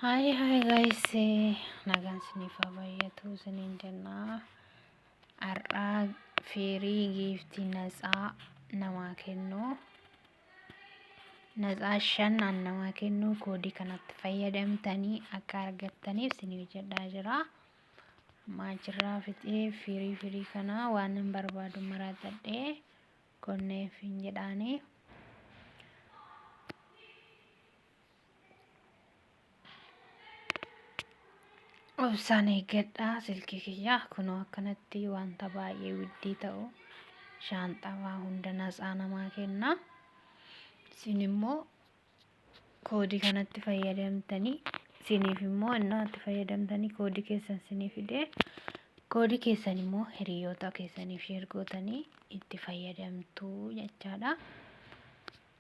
Hi hi guys nagaan isiniif haa baay'atu isiniin jennaa har'aa firii giiftii natsaa namaa kennuu natsaa shan an namaa kennuu koodii kanatti fayyadamtanii akka argattaniif isin hojjedhaa jira maachirraa fixee firii firii kana waan hin barbaadu maraatadhee konneef hin jedhaanii Obsaan eeggadhaa silkii kiyyaa kunoo akkanatti wanta baay'ee widdii ta'u shaanxaa waa hunda natsaa namaa kenna. Isin immoo koodii kanatti fayyadamtanii isiniif immoo innaatti fayyadamtanii koodii keessan isinii fidee koodii keessan immoo hiriyoota keessaniif sheer gootanii itti fayyadamtuu jechaadha.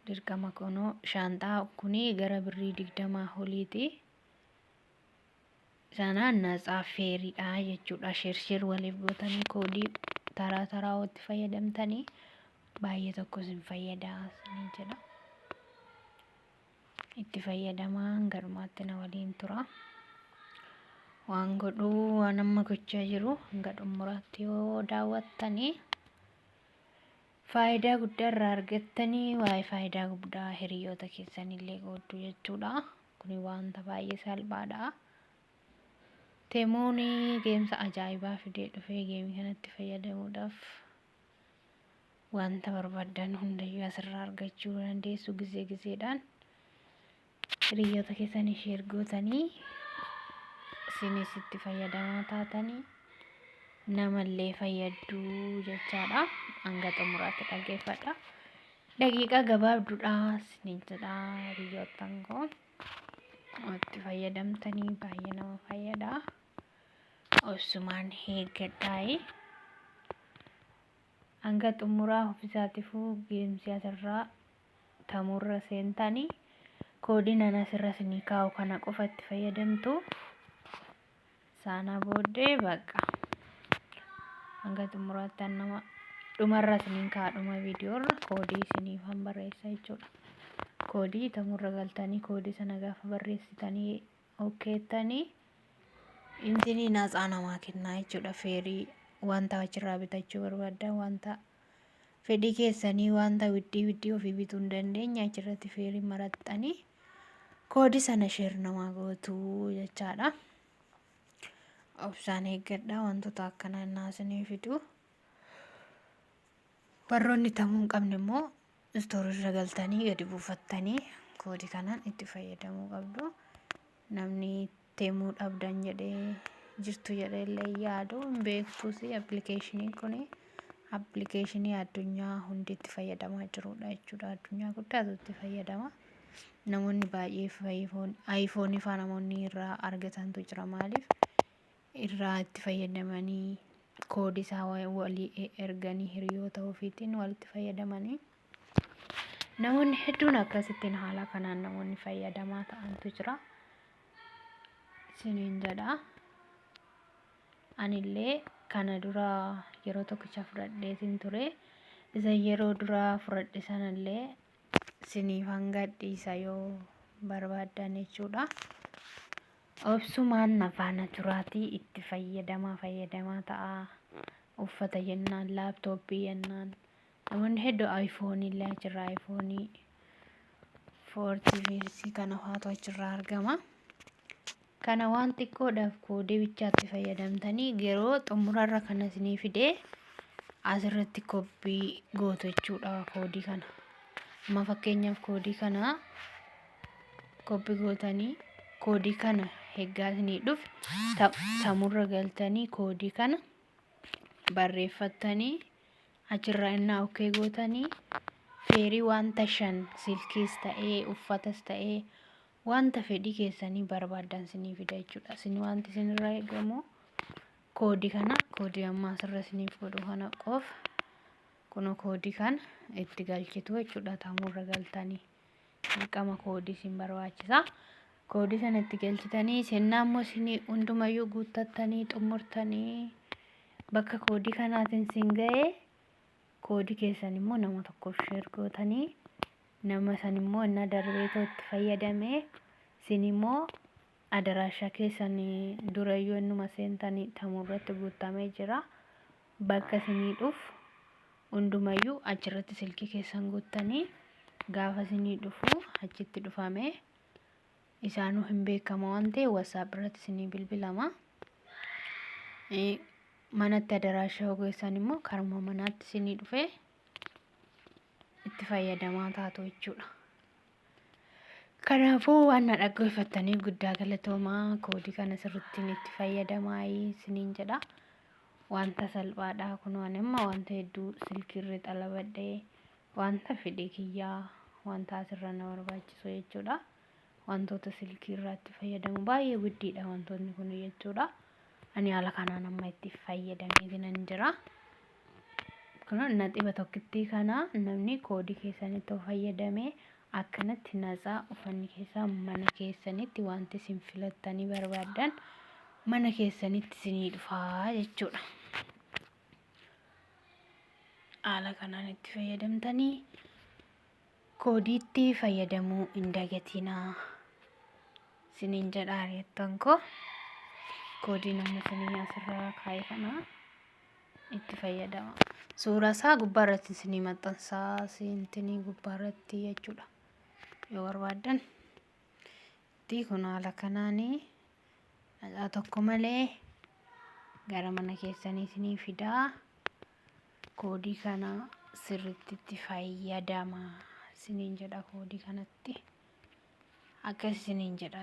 Dirqama kunoo shaanxaa kuni gara birrii digdamaa oliiti. Sana natsaa feeriidha jechuudha. Sheersheer waliif gootanii koodii taraa taraa itti fayyadamtanii baay'ee tokko isin fayyada isin jedha. Itti fayyadamaa hanga dhumaatti na waliin tura. Waan godhuu waan amma gochaa jiru hanga xumuraatti yoo daawwattanii. Faayidaa guddaa irraa argattani waa'ee faayidaa guddaa hiriyoota keessanillee qooddu jechuudha. Kuni wanta baay'ee salphaadha. Temuun geemsa ajaa'ibaa fidee dhufee geemii kanatti fayyadamuudhaaf wanta barbaadan hundayyuu asirraa argachuu dandeessu gizee gizeedhaan. hiriyoota keessanii sheer gootanii isinis itti fayyadamaa taatanii namallee fayyadduu jechaadha hanga xumuraatti dhaggeeffadha daqiiqaa gabaabduudha isiniin jedha hiriyoottan koo itti fayyadamtanii baay'ee nama fayyada obsumaan eeggadhaa'ee hanga xumuraa ofisaatiifuu geemsi asirraa fayyadamurra seentani koodiin an asirra isinii kaa'u kana qofa itti fayyadamtu saana booddee baqqa hanga xumuraatti an nama dhumarra isiniin kaa'a dhuma viidiyoorra koodii isiniif han barreessa jechuudha koodii tamurra galtanii koodii sana gaafa barreessitanii okkeettanii intinii naatsaa namaa kennaa jechuudha feerii wanta achirraa bitachuu barbaaddan wanta fedhii keessanii wanta widdii widdii ofii bituu hin dandeenye achirratti feerii maraxxanii koodi sana sheer namaa gootuu jechaadha. Obsaan eeggadha wantoota akkanaa innaa isinii fiduu. Warroonni tamuu hin qabne immoo istoorii irra galtanii gadi buufattanii koodi kanaan itti fayyadamuu qabdu. Namni itti himuu dhabdan jedhee jirtu jedhee illee hin yaadu hin beektus appilikeeshiniin kun appilikeeshinii addunyaa hundi itti fayyadamaa jirudha jechuudha addunyaa guddaatu itti fayyadama namoonni baay'ee ayfoonii faa namoonni irraa argatantu jira maaliif irraa itti fayyadamanii koodii isaa walii erganii hiriyoota ofiitiin walitti fayyadamanii namoonni hedduun akkasittiin haala kanaan namoonni fayyadamaa ta'antu jira isiniin jedha anillee kana dura yeroo tokkicha fudhadheetiin ture isa yeroo dura fudhadhe sanallee isiniif hanga dhiisa yoo barbaaddan jechuudha. Obsumaan na faana turaatii itti fayyadamaa fayyadamaa ta'aa. Uffata jennaan, laaptooppii jennaan. Namoonni heddu iPhone illee achirraa iPhone 40 kana faatu achirraa argama. Kana waan xiqqoodhaaf koodee bichaatti fayyadamtanii yeroo xumurarra kan isinii fidee asirratti koppii gootu jechuudha koodii kana. Amma fakkeenyaaf koodii kana koppi gootanii koodii kana heggaa isinii dhufe samurra galtanii koodii kana barreeffattanii achirraa innaa okkee gootanii feerii wanta shan silkiis ta'ee uffatas ta'ee wanta fedhii keessanii barbaadan isinii fida jechuudha isin wanti isinirraa eegamu koodii kana koodii ammaa asirra isiniif godhu kana qofa kun koodii kana itti galchitu jechuudha taamurra galtanii dirqama koodii isin barbaachisa. Koodii sana itti galchitanii sennaa immoo isin hundumayyuu guuttattanii xumurtanii bakka koodii kanaatiin isin ga'e koodii keessan immoo nama tokkoof sheer gootanii nama san immoo innaa darbee too itti fayyadame isin immoo adaraashaa keessan durayyuu innuma seentanii tamuu irratti guuttamee jira. Bakka isinii dhufu hundumayyuu achirratti silkii keessan guuttanii gaafa isinii dhufu achitti dhufamee isaanuu hin beekama waan ta'e WhatsApp irratti isinii bilbilama. Eh, Manatti adaraashaa hogeessan immoo karuma manaatti isinii dhufee itti fayyadamaa taatu jechuudha. Kanaafuu waan na dhaggeeffattaniif guddaa galatoomaa koodii kana sirrittiin itti fayyadamaa isiniin jedha. Wanta salphaadha kunoo ani amma wanta hedduu silkiirra xalabadhee wanta fedhii kiyyaa wanta asirra na barbaachisu jechuudha. wantoota silkii irraatti fayyadamu baay'ee guddiidha wantoonni kun jechuudha ani haala kanaan amma itti fayyadameeti nan jira kun naxiba tokkittii kana namni koodii keessanitti of fayyadame akkanatti natsaa ufanni keessaa mana keessanitti wanti isin filattanii barbaadan mana keessanitti isinii dhufaa jechuudha haala kanaan itti fayyadamtanii Koodiitti fayyadamuu hin dagatinaa isiniin jedha hiriyoottan koo. Koodiin amma isinii asirraa kaa'e kana itti fayyadama. Suuraa isaa gubbaa irratti isinii maxxansaa siintinii gubbaa irratti jechuudha. Yoo barbaaddan itti kun haala kanaanii dhaqaa tokko malee gara mana keessanii isinii fidaa. Koodii kana sirriitti itti fayyadama isiniin jedha koodii kanatti akkas isiniin jedha.